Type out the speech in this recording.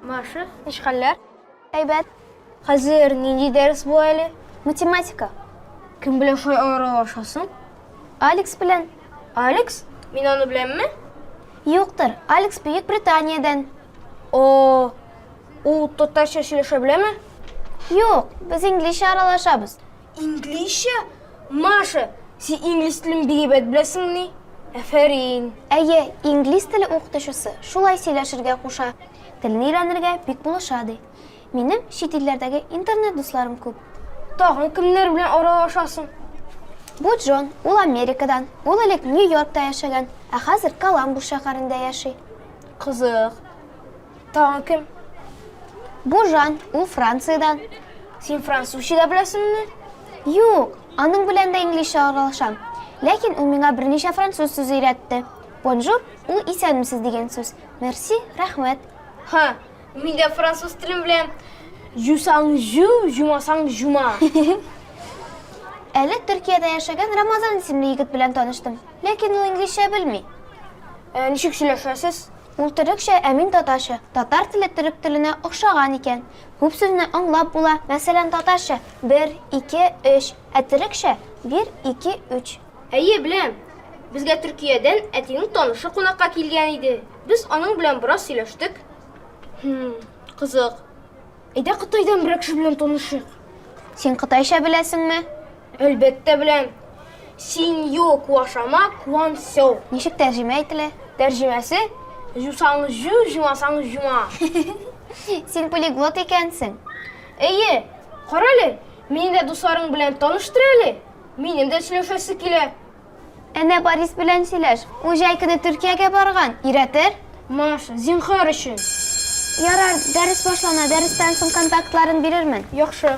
Маша. Ничек хәлләр? Әйбәт. Хәзер нинди дәрес бу әле? Математика. Кем белән шулай аралашасың? Алекс белән. Алекс? Мин аны беләмме? Юктыр. Алекс Бөек Британиядән. О, ул татарча сөйләшә беләме? Юк, без инглизчә аралашабыз. Инглизчә? Маша, син инглиз телен бик әйбәт беләсеңмени? Әфәрин! Әйе, инглиз теле укытучысы шулай сөйләшергә куша, телне өйрәнергә бик булыша, ди. Минем чит илләрдәге интернет дусларым күп. Тагын кемнәр белән аралашасың? Бу Джон, ул Америкадан. Ул элек Нью-Йоркта яшәгән, ә хәзер Коламбус шәһәрендә яши. Кызык. Тагын кем? Бу Жан, ул Франциядән. Син французча да беләсеңме? Юк, аның белән дә инглизчә аралашам. Ләкин ул миңа берничә француз сүзе өйрәтте. Бонжур, ул исәнмесез дигән сүз. Мерси, рәхмәт. Ха, Мин дә француз телен беләм. Жусаң жу, жумасаң жума. Әле Төркиядә яшәгән Рамазан исемле егет белән таныштым. Ләкин ул инглизчә белми. Ә ничек сөйләшәсез? Ул төрекчә, ә мин татарча. Татар теле төрек теленә охшаган икән. Күп сүзне аңлап була. Мәсәлән, татарча, бер, ике, өч. Ә төрекчә, бир, ике, үч. Әйе, беләм. Безгә Төркиядән әтинең танышы кунакка килгән иде. Без аның белән бераз сөйләштек. Хм, кызык. Әйдә Кытайдан берәр кеше белән танышыйк. Син кытайча беләсеңме? Әлбәттә беләм. Синьо куашама куан сяо. Ничек тәрҗемә ителә? Тәрҗемәсе Җусаң җу, җумасаң җума. Син полиглот икәнсең. Әйе, карале, мине дә дусларың белән таныштыр әле. Минем дә сөйләшәсе килә. Әнә Борис белән сөйләш. Ул җәй көне Төркиягә барган. Өйрәтер? Маша, зинхар өчен. Ярар, дәрес башлана, дәрестән соң контактларын бирермен. Яхшы.